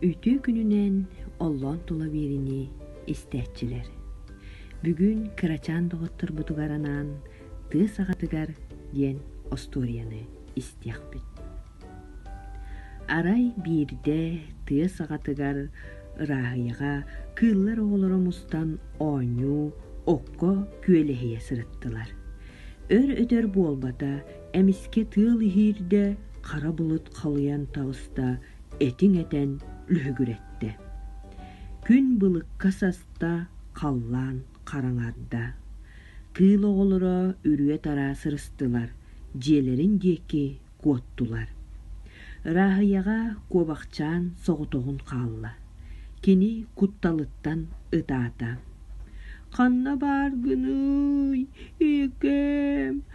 Үтүө күнүнэн оллоон тула биэриини истээччилэр. Бүгүн кырачаан доҕотторбутугар анаан тыа саҕатыгар диэн остуоруйаны истиэхпит. Арай биирдэ тыа саҕатыгар ырааһыйаҕа кыыллар оҕолоро мустан оонньуу, окко күөлэһийэ сырыттылар. Өр-өтөр буолбата эмискэ тыал иһиирдэ хара булут халыйан таҕыста этиҥ этэн лүһүгүрэттэ күн былыкка саста халлаан хараҥарда кыыл оҕолоро үрүө-тараа сырыстылар дьиэлэрин диэки куоттулар Рааһыйаҕа куобахчаан соҕотоҕун хаалла кини кутталыттан ытаата ханна баар гыныы ийэкээм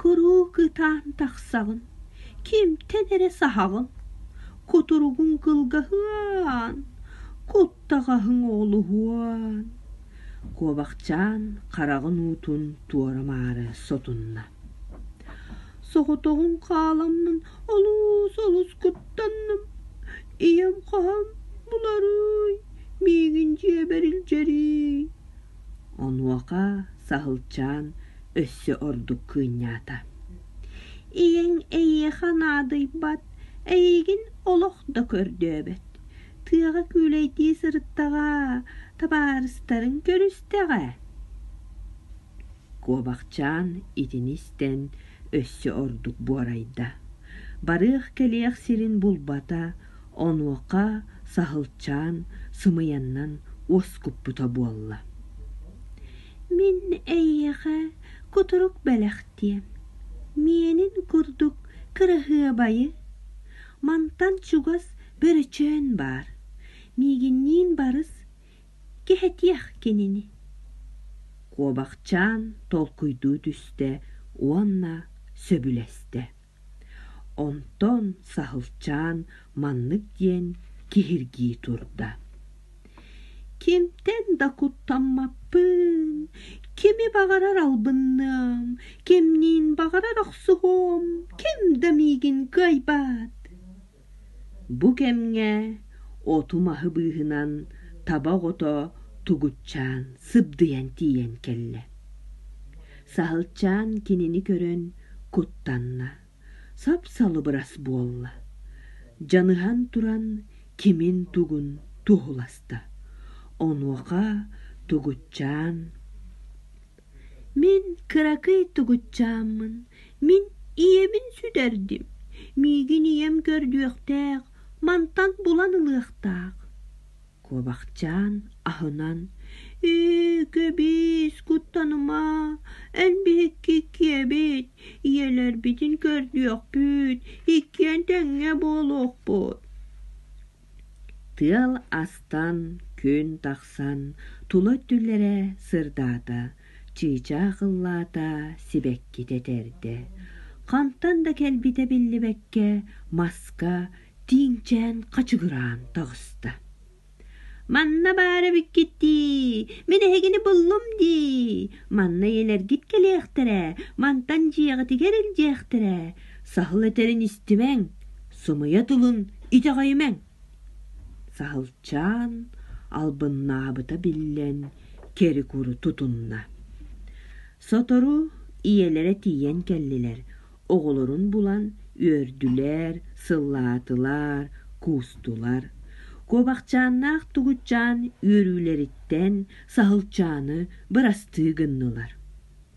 кыруук ытаан тахсаҕын кимтэн эрэ саһаҕын кутуругуҥ кылгаһыан куттаҕаһыҥ оҕолуһуон куобахчаан хараҕын уутун туора-маары сотунна соҕотоҕун хааламмын олус олус куттанным ийэм хаһан буларуй миигин дьиэбэр илдьэрий Онуоха Саһылчаан өссө ордук кыынньаата: «Ийэҥ эйиэхэ наадыйбат, эйиигин олох да көрдөөбөт. Тыаҕа күүлэйдии сырыттаҕа, табаарыстарыҥ көрүстэҕэ». Куобахчаан итини истэн өссө ордук буорайда: барыах-кэлиэх сирин булбата Онуоха Саһылчаан сымыйаннан уоскуппута буолла. «Мин эйиэхэ кутурук бэлэхтиэм, миэнин курдук кыраһыабайы. Мантан чугас бөрөчөөн баар, миигинниин барыс кэһэтиэх кинини». Куобахчаан толкуйдуу түстэ уонна сөбүлэстэ. Онтон Саһылчаан маннык диэн киһиргии турда: «Кимтэн да куттаммаппын, кими баҕарар албынныам, кимниин баҕарар охсуһуом, ким да миигин кыайбат» Бу кэмҥэ оту-маһы быыһынан таба оҕото Тугутчаан сыбдыйан тиийэн кэллэ. Саһылчаан кинини көрөн куттанна, сап-салыбырас буолла. Дьаныһан туран кимин-тугун туоһуласта. Онуоха Тугутчаан: Мин кыракый тугутчааммын, мин ийэбин сүтэрдим, миигин ийэм көрдүөхтээх, мантан булан ылыахтаах» Куобахчаан аһынан «Ү-кү-бис, куттаныма, эн биһикки иккиэбит, ийэлэрбитин көрдүөхпүт, иккиэн тэҥҥэ буолуохпут» Тыал астан, күн тахсан, тула өттүлэрэ сырдаата, чыычаах ыллаата, сибэккитэ этэрдэ. Хантан да кэлбитэ биллибэккэ маска тииҥчээн хачыгыраан таҕыста. «Манна баар эбиккиттии, мин эһигини буллум дии, манна ийэлэргит кэлиэхтэрэ, мантан дьиэҕитигэр илдьиэхтэрэ, саһыл этэрин истимэҥ» сымыйа тылын итэҕэйимэҥ саһылчаан албыннаабыта биллэн кэрикуру тутунна сотору ийэлэрэ тиийэн кэллилэр оҕолорун булан үөрдүлэр сыллаатылар куустулар куобахчааннаах тугутчаан үөрүүлэриттэн саһылчааны бырастыы гыннылар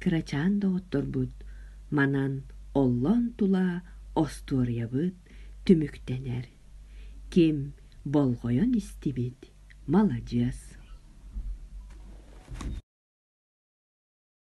кырачаан доҕотторбут манан оллоон тула остуоруйабыт түмүктэнэр ким болҕойон истибит маладьыас